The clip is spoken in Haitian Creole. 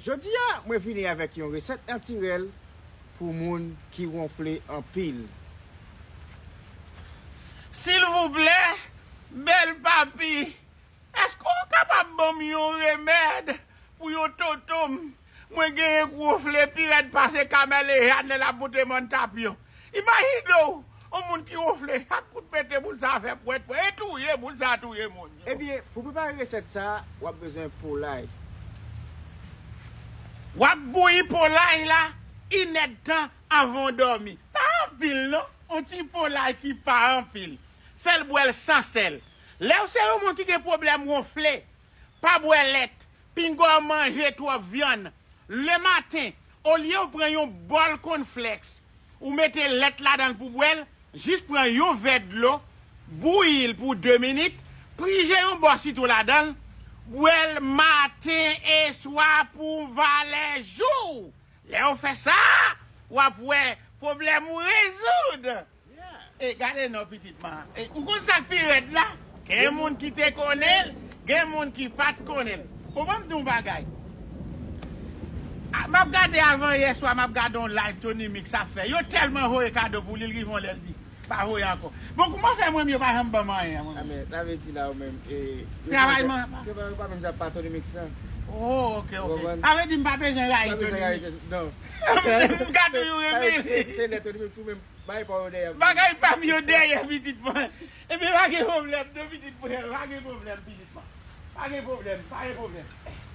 Jodi a mwen vini avèk yon resèt natirèl pou moun ki wonfle anpil. Silvouplè bèl papi eske ou kapab banm yon remèd pou yon tontonm mwen genyen k wonfle pi rèd pase kameleha nan laboute mòn tapyon. Imajine w yon moun ki wonfle chak kout pete boul sa fè pwèt pwèt e touye boul sa touye moun. Ebyen pou prepare resèt sa wap bezwen polay. Wap bouyi polay la inèdtan anvan w dòmi. Pa anpil non, yon ti polay ki pa anpil. Fèl bwè l san sèl. Lèw se yon moun ki gen pwoblèm wonfle, pa bwè lèt, pinga w manje twòp vyann. Lematen Olyew pran yon bòl kònflèks ou mete lèt ladanl pou bwèl, jis pran yon vè dlo, bouyil pou 2 minit, prije yon bò sitwon ladanl, bwèl maten e swa pou valè jouw! Lèw fè sa, wap wè pwoblèm ou rezoud! E gade non pitit ma. E ou konn sak pi rèd la? Gen moun ki te konnen l, gen moun ki pat konnen l. Bon banm di w yon bagay. Map gade avan yè swa map gade yon live Tony mix ap fè. Yo tèlman voye kado pou li, li rive yon lè li di pa voye ankò. Bon kouman fè mwen menm yo pa janm banm anyen mwen menm. Sa vle di la ou menm e Travay m an. Travay ou pa menm sa pa Tony mix nan. Oh ok ok. Sa vle di m pa bezwen rayi Tony mix. Sa vle di m pa bezwen rayi Tony mix. Non. M ka toujou renmen li. Se lè Tony mix ou menm Bagay pa m yo dèyè pitit mwen. Ebyen pa gen pwoblèm non pitit mwen, pa gen pwoblèm pitit mwen. Pa gen pwoblèm, pa gen pwoblèm.